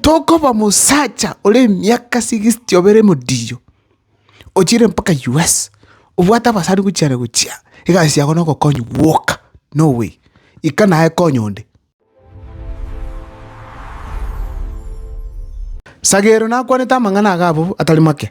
Tokoba omosacha ore emiaka sigisiti obere modiyo, ochiire mpaka US, obwate abasani gochiana gochia, egasi yago nogokonywa gwoka, no way, ika naye konya onde. Sagero nakwanete amang'ana aga abwo atari make.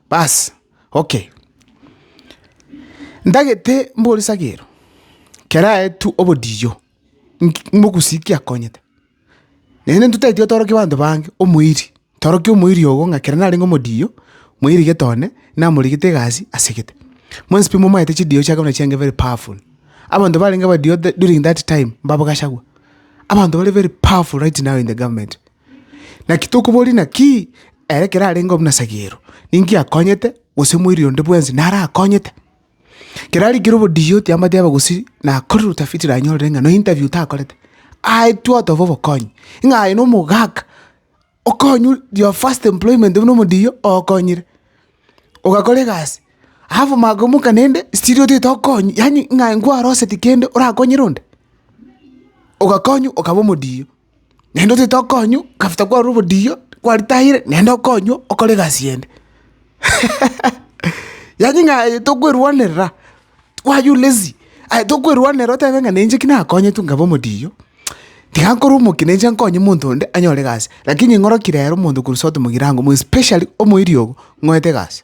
Basi, okay. Ntagete mbore sagero, kerae tu obodiyo, nki mogusi ki akonyete? Naende ntotaeti otorokie banto bange omoiri, torokia omoiri ogo ng'a kera narenge omodiyo, moiri gete one, namorigete egasi ase gete. Mwensi pi momaete chidiyo chiake buna chianga very powerful. Abanto barenge abadiyo the during that time, mbabo Gachagua. Abanto bare very powerful right now in the government. Naki tokoboria naki ere ekero arenge buna sagero, ninki akonyete, gose moiri onde bwensi naro akonyete. Ekero arikire obodiia otiambatia abe gose nakorire utafiti nanyorire ng'a na interview takorete, aetwe oteba obokonyi, ng'a aye na omogaka okonywa your first employment buna omodiia okonyire, ogakora egasi alafu omaka omoka naende still otagete okonyi yaani ng'a aye nkwaroseti kende orakonyere onde, ogakonywa okaba omodiia. naende otete okonywa, after kwarorwa obodiyo, kwaritayire, naende okonywa okore egasi ende. Yaani ng'a aye tokwerwanerera, why u lazy? Aye tokwerwanerera otebe ng'a ninche ki nakonyetwe nkaba omodiyo, tiga nkore omokia ninche nkonye monto onde anyore egasi, lakini ng'oroki rero monto korwa sote mogirango mwe especially omoerio ogo, ng'oete egasi.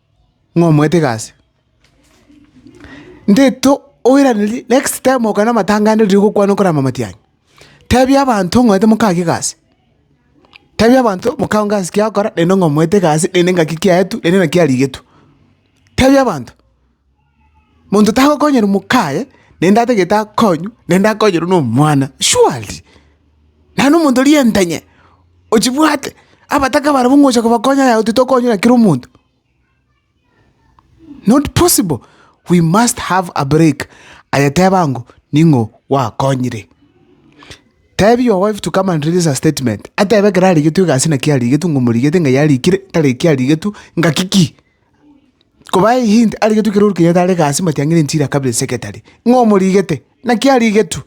ng'a omoete egasi. Nteto oiranerie next time okoa na amatangare riria ogokwana okorama amatiang'i, tebia abanto ng'a oete moka ake egasi, tebia abanto moka onge ase ekiya agokora naende ng'a omoete egasi naende ng'aki kiaetwe naende naki arigetwe. Tebia abanto. Monto tagokonyera omokaye, naende atagete akonywe, naende akonyorwe nomwana. Surely! Naende omonto rienta inye, ochibwate, abataka barabwo ng'a ocha kobakonya yao titokonywa na kera omonto. Not possible, we must have a break, aye teba ng'o ning'o gwakonyire. Tebia your wife to come and release a statement, atebe ekero arigetwe egasi naki arigetwe ng'a omorigete ng'a yarikire, tari ekio arigetwe, ng'aki ki? Koba eye hint arigetwe ekero orikonyete are egasi matiang'ire nchira kabere secretary, ng'a omorigete, naki arigetwe.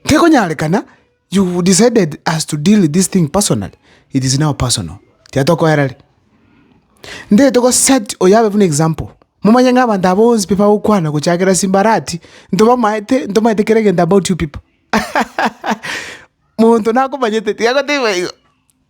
Tekonyarekana, you decided as to deal with this thing personally, it is now personal, tiga tokoerari. Ntaete go set oyo abe buna example, momanye ng'a abanto aba bonsi pi bagokwana gochakera ase mbarati, ntobamaete ntomaete kera egento about you people, monto nakomanyete tiga agotebi baigo.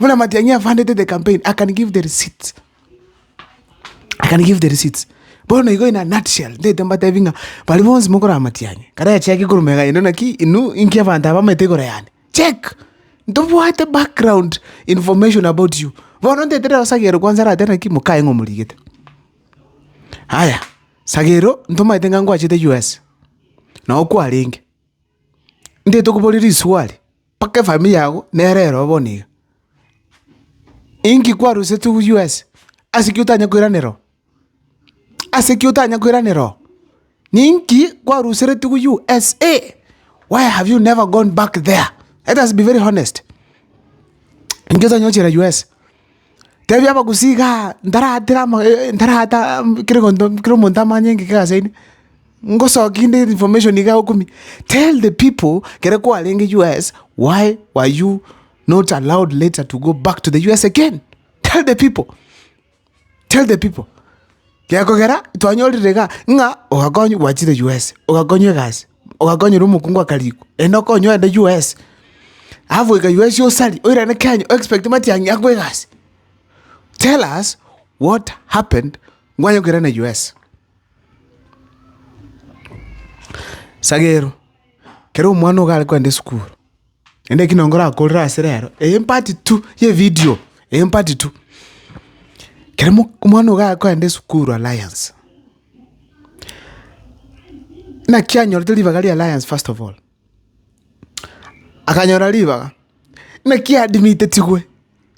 Buna Matiang'i afandete the campaign, I can give the receipts. I can give the receipts. Bono igo in a nutshell, ndete mbatebi ng'a bari bonsi mokorora Matiang'i, kare acheke igoro mega ino naki inwe inki abanto aba bamanyete igoro yane. Check! Ntobwate background information about you. Bono ndete rero Sagero kwanza aratebe naki mokaye ng'a omorigete. Aya, Sagero ntomanyete ng'a ngwachete US, nao kwarenge. Ntaete kobori riswali, mpaka efamiri yago nere ero bono iga. Inki kwaroseti US? Ase ki otanya koiranera oo? Ase ki otanya koiranera oo? Ninki kwaruseretie go USA? Why have you never gone back there? Let us be very honest. Inki otanya gochira US? Tebia abagusii igaa ntaratera ama ntarata kera egento kera omonto amanye ng'iki egasi yaino, ngosoki inde information iga okumia, tell the people kere kwarenge US why were you not allowed later to go back to the US again? Tell the people, tell the people, gekogera twanyorire igaa ng'a ogakonywa gwachire US ogakonywa egasi. ogakonyera omokungu aka riko, enda okonye ogende US. Alafu goika US osari, oirane Kenya o expect matiang'i akwe egasi. Tell us what happened nkwanye koirana US. Sagero, kera omwana iga are kogenda esukuru. Naende ekio nonye ngorakorere ase rero, empati tu y'evidio, empati tu. Kera mo- omwana iga agoenda esukuru Alliance, naki anyorete ribaga ria Alliance first of all, akanyora ribaga, naki adimitetigwe.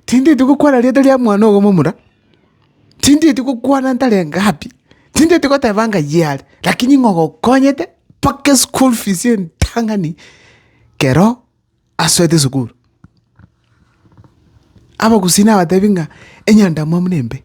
Tindieti gokwana rieta ria mwana ogo momura, tindieti gokwana ntarenge happy, tindieti goteba anga yea are, lakini ng'a ogokonyete mpaka eschool fees entang'ani kero asoete esukuru. Abagusii nabatebi ng'a enyandamwamu nembe.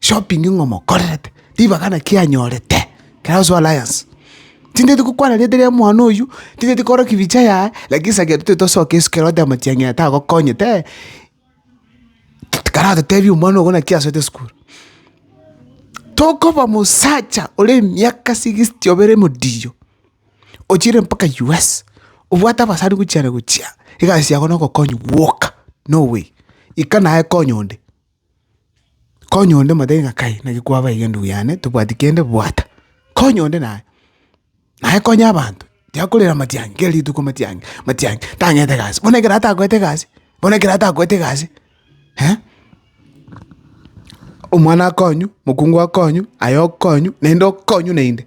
shopping ng'a omokorerete, ribaga naki anyorete ekero ase alliance. Tinteti gokwana rieta ria omwana oywo, tinteti korokia bicha yaye, lakini sa kero tosoke isiko ero oteba matiang'ina tagokonyete eh, karatotebie omwana ogo naki asoete esukuru. Tokoba mosacha ore emiaka sixty obere modiyo, ochiire mpaka us, obwate abasani gochia na gochia, egasi yago na ogokonya gwoka, no way. Ika naye konya onde. Konya onde motebi ng'a kai naki kwaba iga ndugu yane tobwati kende bwata, konya onde naye, naye konya abanto tiakorera matiang'i kera rituko matiang'i matiang'i tang'ete egasi, bono ekero atagoete egasi bono ekero atagoete egasi omwana akonywe, mokungu akonywe, aye okonywe, naende okonywe naende.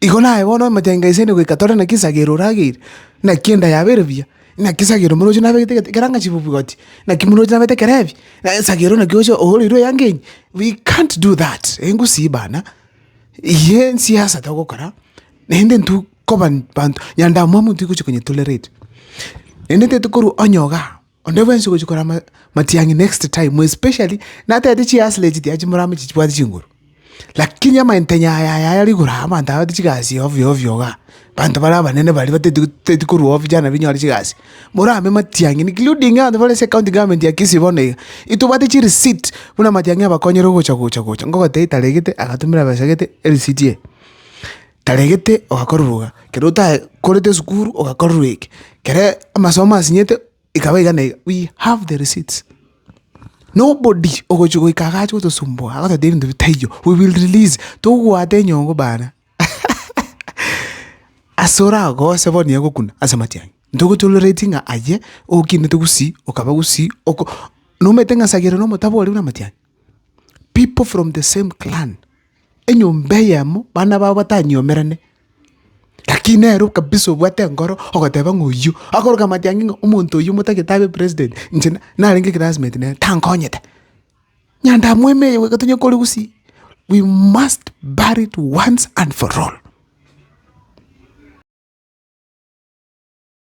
Igo naye bono emetenge ise ere goika tore naki esagere orageire, naki enda yabo ere buya, naki esagere omorochi nabegete gete ekero angachie bobwoti, naki omorochi nabete ekero heavy, naye esagere naki oche ohoreirwe eyanga enyia, we can't do that, engusii bana, eyio ensiasa togokora, naende intwe koba banto, nyandamwamu intwe togochi konye tolerate, naende intwe tokorwa onye igaa. Onde bwensi ogochia korama matiang'i next time, especially natete chihasla echi tiachi morame echi chibwate chinguru. Lakini amayentenyo aya aya aya rigoro aya abanto aba bate chigasi ovyo ovyo igaa, abanto bare abanene baria bateti teti korwa ofisi yane nabo inyore chigasi. Morame matiang'i including abanto bare ase ecounty government ya Kisii bono iga, intobwate chirisit buna amatiang'i abakonyire ogocha gocha gocha, ngogotebi taregete agatumera besa gete erisiti eye. Taregete ogakoruruka, kero otae korete esukuru ogakorerwa eke, kere amasomo asinyete ekaba iga na iga, we have the receipts. Nobody ogochia goika iga ache gotosumbua agototebia ebinto bitaiyo, we will release togwate enyongo bana ase oragose bono nigo agokuna ase amatiang'i. Ntogo tolereti ng'a aye okinete gusii okaba gusii oko nomanyete ng'a sagera na omotaboria buna amatiang'i. People from the same clan. enyomba eyemo bana bao batanyiomerane, lakini nere kabisa obwate enkoro ogoteba ng'a oyio akoroka amatiangi ng'a omonto oyio motagete abe president inche narenge eclassmate nere tankonyete. Nyandamwema eye iga tonya kore gusii, we must bury it once and for all.